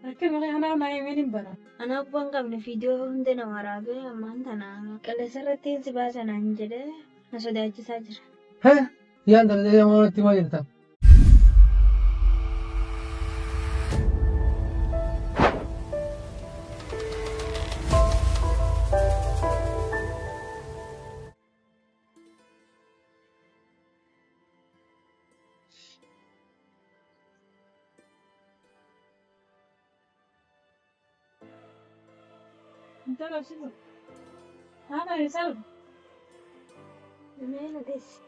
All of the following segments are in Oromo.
Rakkina kanaa naa himeen hin bara. Anaa abbaan qabne fiidiyoo hunda na waraabee ammaan tana qilleensa irratti hin si baasa naan jedhee na sodaachisaa jira. He! Yaan tana jedhee moo natti himaa jirta?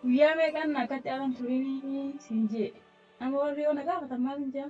Guyyaa meeqan akkatti alan turinii siin jee. Amma warri yoo na gaafatan maal hin jaa?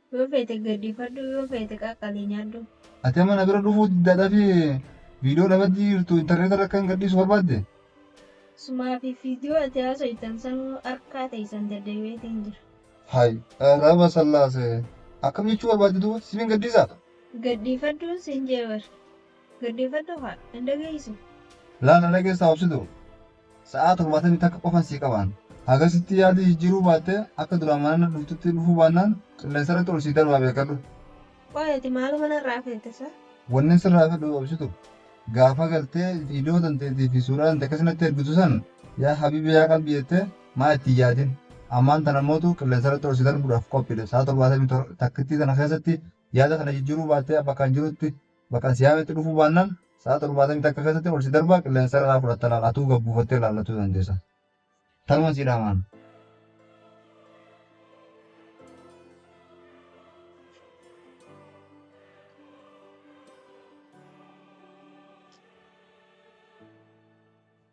Yoo feete gaddifadhu yoo feete qaqqalii nyaadhu. Ati amma na bira dhufuu diddaa dhafi video dhabaddii jirtu internet irra akkan gadhiisu barbaadde? Sumaa fi video ati haasoytan sanuu harkaa teessan daddabeetiin jira. Hay raba sallaase akkam jechuu barbaadde duuba sifin gadhiisaa? Gadhiifadhu sin jee bar. Dhaggeeffadhu haa hin dhageessisu. Laa na dhageessaa obsitu? Sa'aa torbaatamii takka qofan sii qabaan. Hagasitti yaadii jijjiiruu baattee akka duraan mana na dhuftutti dhufuu baannaan qilleensarratti ol sii darbaa beekadhu. Qoy ati maaluma narraa feete sa? Wannin sirraa fedhu obsitu gaafa galtee viidiyoo tanteetii fi suuraa tante akkasi natti ergitu san yaa habiibi yaa qalbii jettee maa itti hin yaadin. Ammaan tana mootu qilleensarratti ol si darbuudhaaf qophiidha. Sa'aa torbaatamii takkittii tana keessatti yaada kana jijjiiruu baattee bakka an jirutti Bakkan si yaametti dhufuu baannaan sa'a 71 keessatti ol si darbaa qilleensarra naa fudhatta laal atuu gad buufattee ilaallachuu dandeessa. Tanuman sii dhaamaan.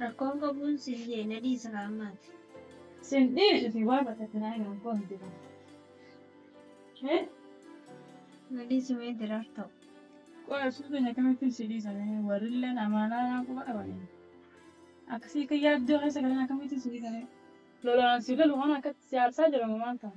Rakkoon qabuun sillee na dhiisa kaa ammaati. Sin dhiisu si waa baqatinaa hin rakkoon jira. He? Na dhiisi mee diraar ta'u. Qoy absuu keenya akkamittiin si dhiisa mee warrilleen amaanaa naan quba qabanii. Akkasii akka yaaddoo keessa galan akkamittiin si dhiisa mee. Lolaan si lolu kana akkatti si aarsaa jira moo maal ta'a?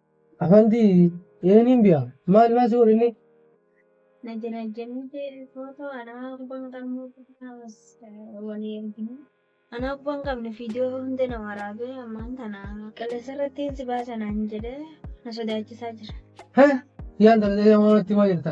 Afanti yeenin biya maal maal soo dhinni. Na jira jennite footoo anaa abbaan qabne kaas walii ergine. Anaa abbaan qabne fiidiyoo hunda na waraabee ammaan tana qilleensa irrattiin si baasa naan jedhee na sodaachisaa jira. Hee yaa intala xiyyaa maal natti himaa jirta?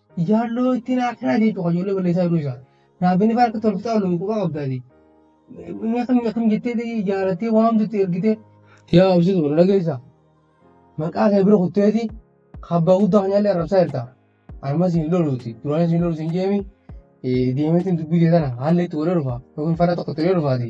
Jaalloo ittiin haadhaa jee cuqa ijoollee balleessaa yeroo isaa. Raabbiin ifaa harka tolftaa oluun quba qabdaati. Inni akkam akkam jettee ta'ii jaalattee waamtutti ergitee. Yaa obsitu na dhageessaa. Maqaa kee bira kutteeti kabbaa guddaa kanyaallee arrabsaa jirta. Anuma siin loluuti duraan siin lolu siin jeemi deemeetiin dubbii tee tana haalli itti godhee dhufa yookiin fara tokko itti godhee dhufaati.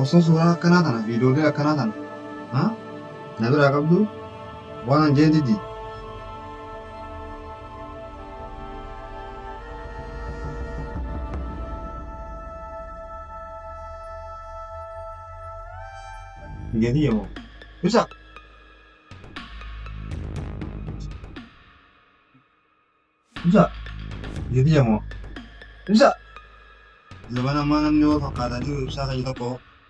Osoo suuraa akkanaa tana viidiyoolee akkanaa tana na biraa qabdu waan an jee didi. Jadi ya mau. Bisa. Bisa. Jadi ya mau. Bisa. Zaman aman namni yoo fakkaatanii ibsaa kan tokko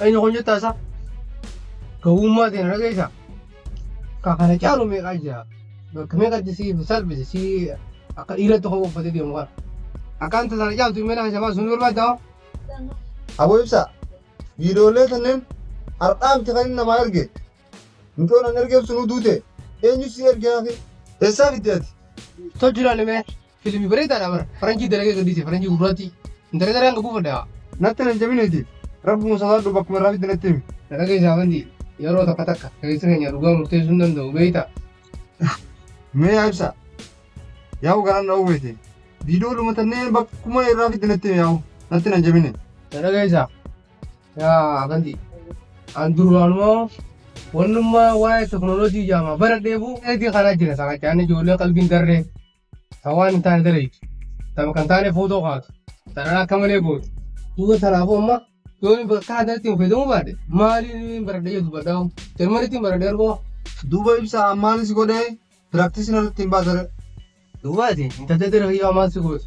Eenyu kun jettaa isaa? Gowwummaa ta'e na dhageessaa? Ka kana caalu meeqaa jira? Bakka meeqatti si salphise si akka dhiiratti koo uffatee deemu kana. Akkaan tasaa na caaltu imala isa baasuun barbaadda hoo? Aboo ibsaa viidiyoolee kanneen har'aa miti kan inni namaa erge mucoon an ergeef sunuu duute eenyu si erge hafe eessaa fidde ati Tolchi ilaalimee Filmi bareedaadha bar faranjii dalagee gadhiise faranjii gurraattii intalli daree hanga buufadhe haa. Natti hin aljabiniiti rabbuma sodaadhu bakkuma irraa fidde natti himi. Na dhageessi Afandii yeroo takka takka keessi keenya dhugaa murteessuu hin danda'u beektaa. Mee yaa ibsaa. Yaa'u garaan na oowweeti. Viidiyoo dhuma tannee bakkuma irraa fidde natti himi yaa'u natti hin aljabini. Na dhageessaa. Yaa Afandii. An duraanumaa wannummaa waa'ee teknooloojii jaamaa baradheefuu eegee kanaa jira saaqachaan ijoollee qalbiin darree. Kan waan hin taane dalaytu. Tapha kan taane footoo kaatu. Sarara akka malee gootu. Duuba tanaafuu amma yoo inni bakka addatti hin fayyadamuu baate maaliin hin baradhe jedhu dubbadhaa. Jarmanitti hin baradhe argoo. Duuba ibsa ammaan si godhee piraaktisii irratti hin baatare. Duubaati intaltee dira fayyoo ammaan si gootu.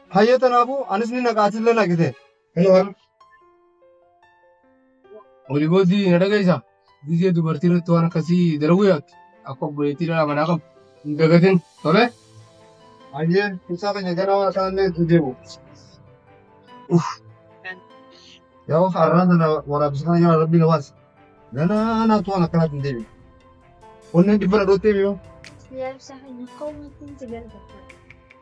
Hayyee tanaafuu anis ni naqa atillee naqite. Oli booddee na dhageessa. Gizee dubartii irratti waan akkasii dalaguu yaaddu akka obboleettii dhala manaa qabu hin dagatin tole. Hayyee ibsaa keenya gara waan isaanillee itti deemu. Yoo har'aan sana waraabessa kana jala rabbi na baase. Ganaa naatu waan akkanaatti hin deebi'u. Onneen dhibbana dhoottee mi'oo. Yaa ibsaa keenya koo maatiin si galateeffadha.